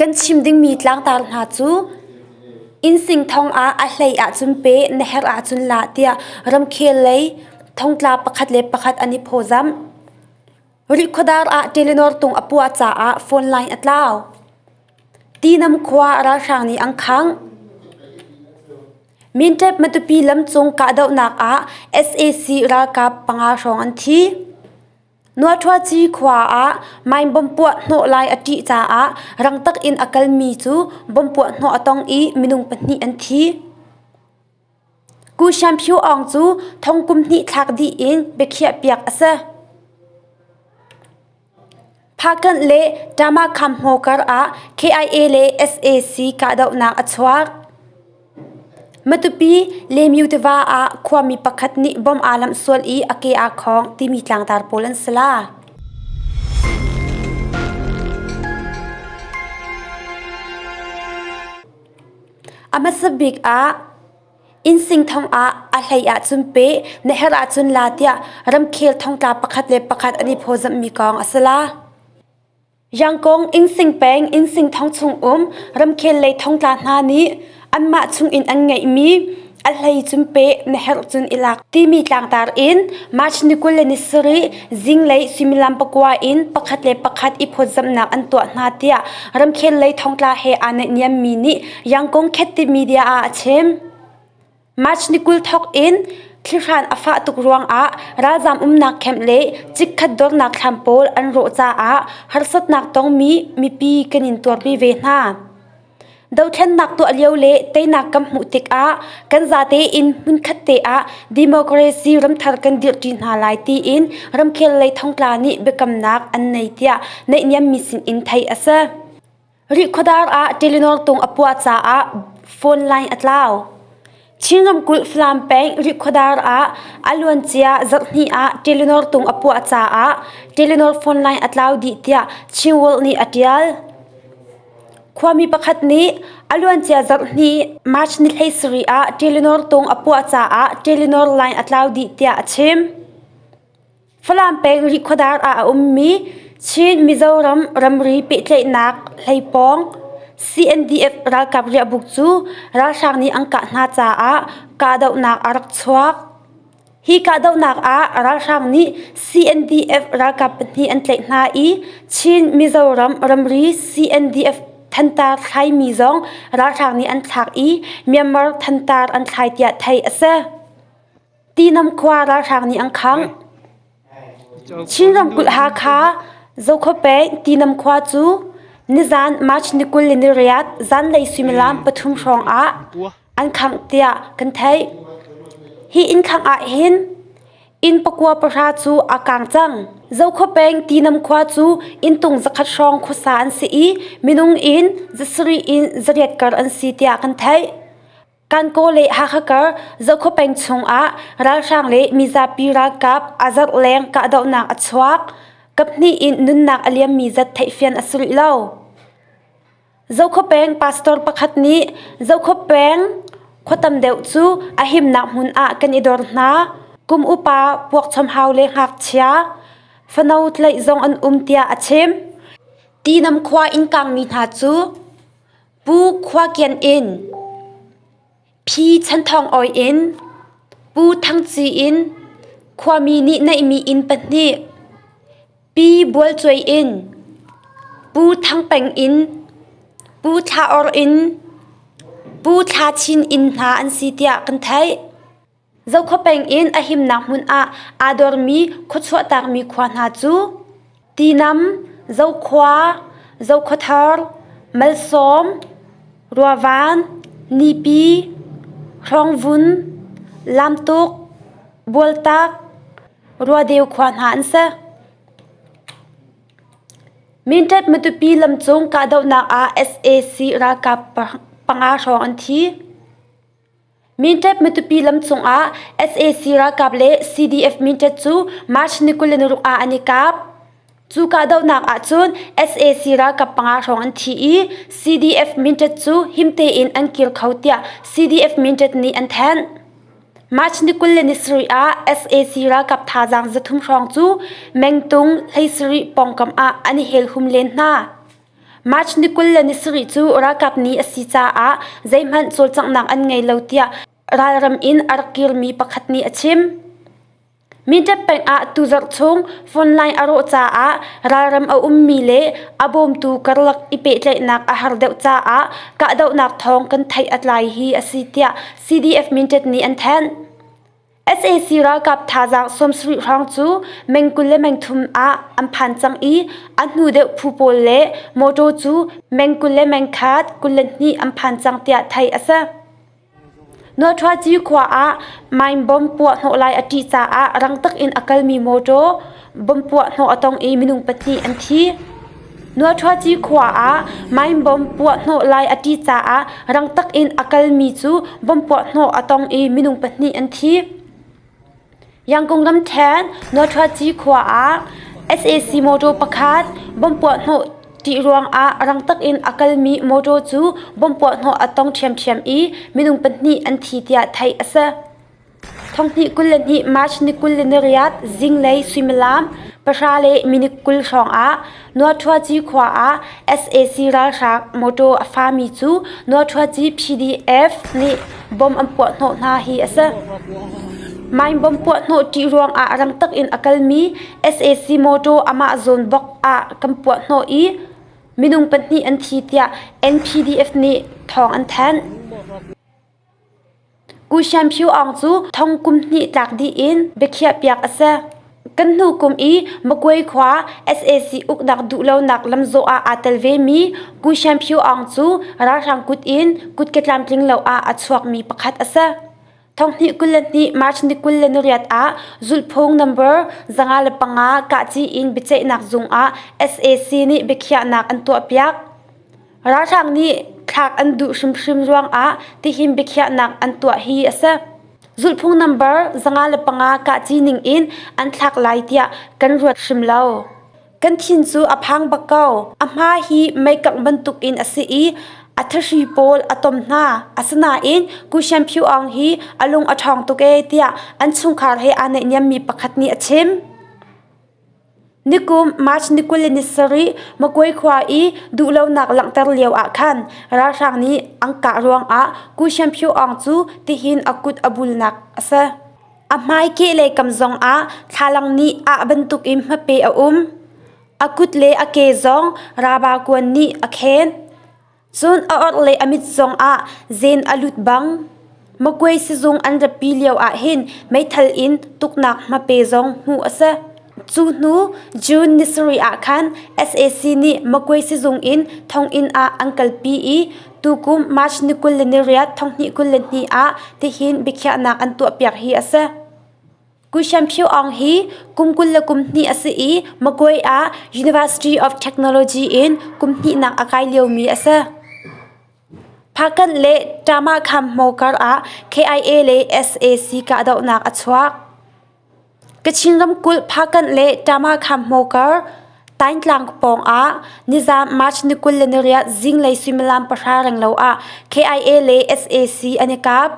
Kan chim dingmi tlangtar hna cu innsing thong ah a hlei ahcun pe, na herh ahcun la tiah ramkhel lei thongtla pakhat le pakhat an i phawzamh. Rihkhawdar ah Telenor tung a puah caah phone line a tlau. Tinam khua ralhrang nih an khangh. Mintep Matupi lamcung kahdohnak ah sac ralkap panga hrawng an thi. Nuahthuaci khua ah mine bomb puah hnawh lai a ṭih caah rangtak in a kalmi cu bomb puah hnawh a tong i minung pahnih an thi. Ku Sian Phu Aung cu thong kum hnih thlak dih in biakhiahpiak a si. Phakanh le Tama Kham Hmo kar ah KIA le SAC kahdohnak a chuak. Matupi Lemyu tiva ah khuami pakhat nih bom aa lamh sual i a ke aa khawng timi tlangtar pawl an si la. A hmasa bik ah Insingthong ah a hlei ahcun peh, na herh ahcun la tiah ramkhel thongtla pakhat le pakhat an i phawzamhmi kong a si la. Yangkong innsing peng innsing thong chung um ramkhel lei thongtla hna nih anmah chungin an ngeihmi a hlei cun peh na herh cun i lak timi tlangtar in March ni kul le ni sarih zinglei suimilam pakua in pakhat le pakhat i phawtzamhnak an tuah hna tiah ramkhel lei thongtla he aa naihniammi nih Yangkong Khetti Media ah a chim. March ni kul thawk in thlihran a fah tuk ruangah ralzaam umnak camp le chikkhat dornak thlam pawl an rawh caah harsatnak tongmi mipi kan in tuarpi ve hna. Dothlennak tuah lio le teinak kan hmuh tikah kan zate in hmunkhat te ah democracy ramthar kan dirhṭi hna lai tiin ramkhel lei thongtla nih biakamnak an nei tiah naihniammi sinin theih a si. Rihkhuadar ah Telenor tung a puah caah phone line a tlau. Chin ramkulh Falam peng Rihkhuadar ah a luancia zarh hnih ah Telenor tung a puah caah Telenor phone line a tlau dih tiah Chin World nih a ṭial. Khuami pakhat nih a luancia zarh hnih March ni hleisarih ah Telenor tung a puah caah Telenor line a tlau dih tiah a chim. Falam peng Rikhuadar ah a ummi Chin Mizoram ramri pehtlaihnak hleipawng CNDF ralkap riahbuk cu ralhrang nih an kah hna caah kahdohnak a rak chuak. Hi kahdohnak ah ralhrang nih CNDF ralkap pahnih an tlaih hna i Chin Mizoram ramri CNDF thantar thlaimi zong ralhrang nih an thlak i Myanmar thantar an thlai tiah theih a si. Tinam khua ralhrang nih an khangh. Chin ramkulh Hakha Zokhaw-peng Tinam khua cu nizan March ni kul le ni riat zanlei suimilam pathum hrawng ah an khangh tiah kan theih. Hi inn khangh ah hin inn pakua pahra cu aa kang cang. Zokhaw-peng Tinam khua cu inntung zakhat hrawng khuasa an si i minung in zasarih in zariat kar an si tiah kan theih. Kankaw le Hakha kar Zokhua peng chungah ralhrang le mizapi ralkap a zarh leng kahdohnak a chuak. Kaphnih in nunnak a liammi zat theihfian a si rih lo. Zokhua peng pastor pakhat nih Zokhua peng khua tam deuh cu a himnak hmun ah kan i dor hna. Kum upa puakchom hau le ngakchia fano tlaih zong an um tiah a chim. Tinam khua in kangmi hna cu Pu khua kian in phi chan thawng awi in Pu Thang Ci in khuami nih neihmi inn pahnih Pi Bual Cuai in Pu Thang Peng in Pu Thla Or in Pu Thla Chin inn hna an si tiah kan theih. Zokhua peng in a himnak hmun ah aa dormi khua chuahtakmi khua hna cu Tinam, Zokhua, Zokhuathar, Malsawm, Ruavan, Nipi, Hrawngvun, Lamtuk, Bualtak, Ruadeu khua hna an si. Minṭep Matupi lamcung kahdohnak ah sac ralkap panga hrawng an thi. Minṭep Matupi lam cungah sac ralkap le CDF Minṭep cu March ni kul le naruk ah an i kap. Cu kahdohnak ahcun sac ralkap panga hrawng an thi i CDF Minṭep cu him tein an kir kho tiah CDF Minṭep nih an thanh. March ni kul le ni sarih ah sac ralkap thazaang zathum hrawng cu Mengtung hleisarih pawngkam ah an i helhum len hna. March ni kul le ni sarih cu ralkap ni a si caah zeihmanh cawlcanghnak an ngei lo tiah ralram in a rak kirmi pakhat nih a chim. Minṭep peng ah atu zarh chung phone line a rawh caah ralram a ummi le a bawmtu karlak i pehtlaihnak a har deuh caah kahdohnak thawng kan theih a tlai hi a si tiah CDF Minṭep nih an thanh. sac ralkap thazaang sawmsarih hrawng cu meng kul le meng thum ah an phan cang i a hnu deuh phu pawl le mawṭaw cu meng kul le meng khat kul le hnih an phan cang tiah theih a si. Nuahthuaci khua ah mine bomb puahhnawh lai a ṭih caah rang takin a kalmi mawṭaw Bom puahhnawh a tong i minung pahnih an thi. Nuaṭhuaci khua ah mine bomb puahhnawh lai a ṭi caah rangtak in a kalmi cu bomb puahhnawh a tong i minung pahnih an thi. Yangkung ramṭhen Nuaṭhuaci khua ah sac motor pakhat bomb puahhnawh ṭih ruangah rangtak in a kalmi motor cu bomb puahhnawh a tong ṭhiamṭhiam i minung pahnih an thi tiah theih a si. Thonghnih kul le hnih March ni kul le niriat zinglei suimilam pahra le minit kul hrawngah Nuathuaci khua ah sac ralhrang motor a fami cu Nuathuaci PDF nih bomb an puahhnawh hna hi a si. Mine bomb puahhnawh ṭih ruangah rangtak in a kalmi sac motor amah zawn bok ah kan puahhnawh i minung pahnih an thi tiah NPDF nih thawng an thanh. U Sian Phu Aung cu thong kum hnih tlak dih in biakhiahpiak a si. Kan hnu kum i Magway khua sac uknak duhlonak lamzawh ah aa tel vemi Ku Sian Phu Aung cu ralhrang kut in kut ke tlamtling lo ah a chuakmi pakhat a si. Thonghnih kul le hnih March ni kul le nuriat ah Zulhphung number zanga le panga kahci in biaceihnak zung ah sac nih biakhiahnak an tuahpiak. Ralhrang nih thlak an duh hrimhrim ruangah tihin biakhiahnak an tuah hi a si. Zulhphung nambar zanga le panga kahci ning in an thlak lai tiah kan ruat hrim lo. Kan thin cu a phang bak ko. A hma hi meikangh bantuk in a si i a thahri pawl a tom hna. Asinain Kushen Phu Aung hi a lung a ṭhawng tuk ee tiah an chungkhar he aa naihniammi pakhat nih a chim. Nikum March ni kul le ni sarih Makwe khua i duhlonak langhter lio ah khan ralhrang nih an kah ruangah Ku Shen Pyo Aung cu tihin a kut a bulnak a si. A hmai kehlei kam zongah thlalang nih ah bantukin hmape a um. A kut le a ke zong raba kuan nih a khen. Cun a orh le a mit zongah zeen a lut bang, makuei sizung an ratpi lioah hin meithal in tuknak hmape zong hmuh a si. Cu hnu June ni sarih ah khan sac nih makuei sizung in thonginn ah an kalpi i tukum March ni kul le ni riat, thonghnih kul le ni ah tihin biakhiahnak an tuahpiak hi a si. Kuishamphiu Aung hi kum kul le kum hnih a si i Magway ah University of Technology in kum hnihnak a kai liomi a si. Phakan le Tamakham mo kar ah KIA le SAC kahdohnak a chuak. Kachin ramkulh Phakan le Tamakham mo kar Taintlang pawng ah nizam March ni kul le ni riat zinglei suimilam pahra renglo ah KIA le SAC an i kap.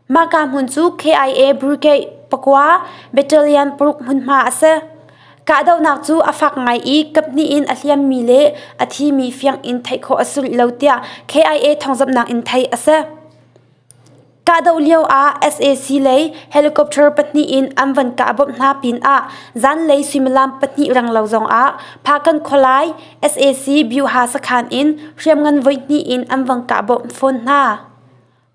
Mahka hmun cu KIA Brigade pakua battalion paruk hmunhma a si. Kahdohnak cu a fak ngai i kaphnih in a hliammi le a thimi fiang in theih khawh a si rih lo tiah KIA thawngzamhnak in theih a si. Kahdoh lio ah SAC lei helicopter pahnih in an van kah bawmh hna pinah zanlei suimilam pahnih renglo zongah Phakan khualai SAC Byeoha sakhan in hriamngan voihnih in an van kah bawmh fawn hna.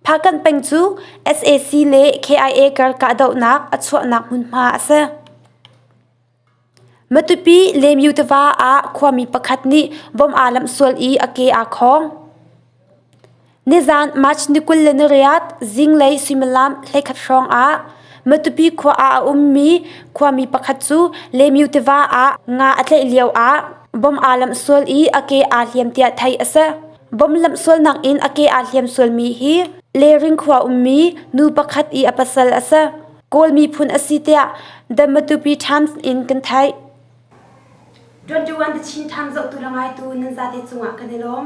Phakanh peng cu sac le KIA kar kahdohnak a chuahnak hmunhma a si. Matupi Lemyu tiva ah khuami pakhat nih bom aa lamh sual i a ke aa khawng. Nizan March ni kul le ni riat zinglei suimilam hleikhat hrawng ah Matupi khua ah a ummi khuami pakhat cu Lemyu tiva ah nga a tlaih lio ah bom aa lamh sual i a ke aa hliam tiah theih a si. Bomlamh sualnak in a ke aa hliam sualmi hi Lering khua ummi nu pakhat i a pasal a si. Kawl miphun a si tiah The Matupi Times in kan theih. 21 the Chin Times zohtu le ngaitu nan zate cungah kan i lawm.